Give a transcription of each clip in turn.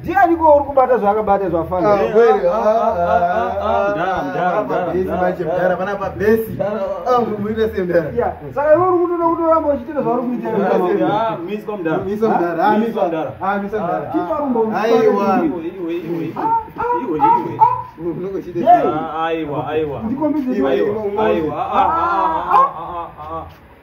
ndianiko uri kubata zvaakabata zvafanasaka iwe uri kutoda kutoramba uchitira zvauri kuitira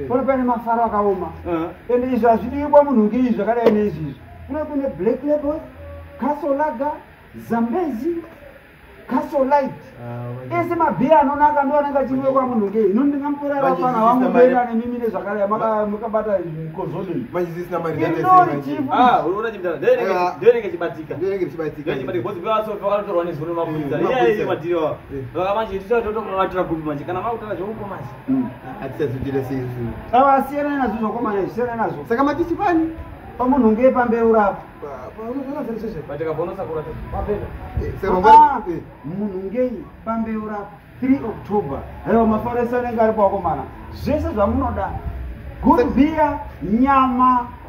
Eh. pano pane mafaro akaoma eh. ende izvi hazvidiwi kwamunhu nge izvi zvakadai neizvi izvi kuno kune black label castle laga zambezi castle light ah, ese mabhiya anonaka ndo anenge achiuye kwamunhu nge ino ndingamutora vafana vangu kuenda nemimi nezvakadai makabata mukozoni kana makutora zveukomasi hatisazoitira sei zvinhu ava asiyana nazvo zvakomana zvisiyana nazvo saka matisi pani pamunhu ngee pambeu rapo munhu ngei pambeu rapo 3 october aiwa mafaresa anenge ari pawakomana zvese zvamunoda good beer nyama